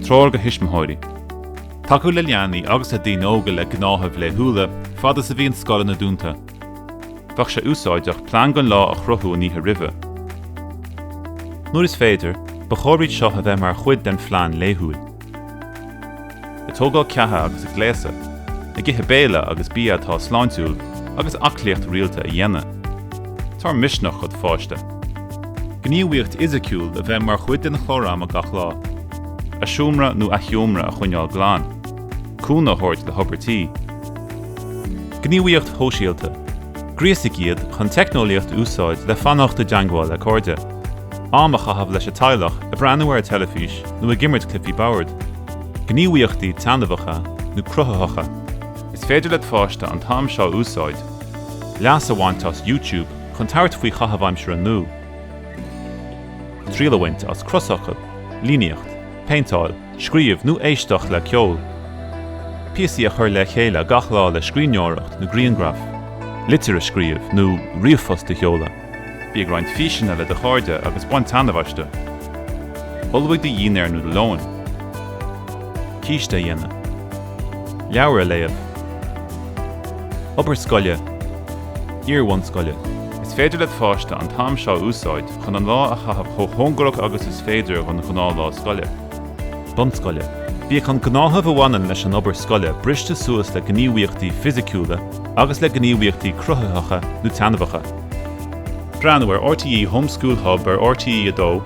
Treoir do thuismitheoirí. Tacú le leanaí agus le daoine óga le gnáthaimh laethúla, fad is a bhíonn scoileanna dúnta. Bheadh sé úsáideach plean don lá a chruthú an oíche roimhe. Nuair is féidir, ba chóir iad seo a bheith mar chuid den phlean laethúil. Ag tógáil ceatha agus ag gléasadh, ag ithe béile agus bia atá sláintiúil, agus aclaíocht rialta a dhéanamh. Tabhair misneach dod' pháiste. Gníomhaíocht fhisiciúil a bheith mar chuid den chlár ama gach lá. A seomra nó a sheomra a choinneáil glan. Cúnamh a thabhairt le hobair tí. Gníomhaíocht shóisialta. Gríosaigh iad chun teicneolaíocht a úsáid le fanacht i dteangmháil le cairde. Am a chaitheamh leis an teaghlach, ag breathnú ar an teilifís nó ag imirt cluichí boird. Gníomhaíochtaí taitneamhacha nó cruthaitheacha. Is féidir le do pháiste an t-am seo a úsáid, leas a bhaint as YouTube. chun tabhairt faoi chaitheamh aimsire nua, triail a bhaint as crosfhocail, líníocht, péinteáil, scríobh nó éisteacht le ceol, píosaí a chur le chéile gach lá le scríbhneoireacht nó grianghraif, litir a scríobh nó ríomhphost a sheoladh. Bí ag roinnt físeanna le do chairde agus bain taitneamh astu. Ullmhaigh do dhínnéar nó do lón. Císte a dhéanamh. Leabhar a léamh. Obair scoile. iarbhunscoile. Is féidir le do pháiste an t-am seo a úsáid chun an lá a chaitheamh chomh cóngarach agus is féidir do ghnáthlá scoile. bunscoile. Bíodh an gnáthamh a bhaineann leis an obair scoile briste suas le gníomhaíochtaí fisiciúla agus le gníomhaíochtaí cruthaitheacha nó taitneamhacha. Breathnú ar RTÉ Home School Hub ar RTÉ 2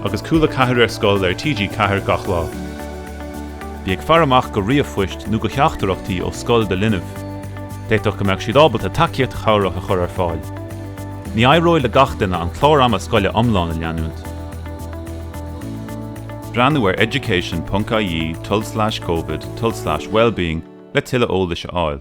agus Cúla 4 ar scoil ar TG4 gach lá. Bí ag faire amach do ríomhphoist nó do theachtaireachtaí ó scoil do linbh. D'fhéadfadh go mbeadh siad ábalta tacaíocht chabhrach a chur ar fáil. Ní éireoidh le gach duine an clár ama scoile iomlán a leanúint. Breathnú ar education.ie tulslais covid tulslais wellbeing le tuilleadh eolais a fháil.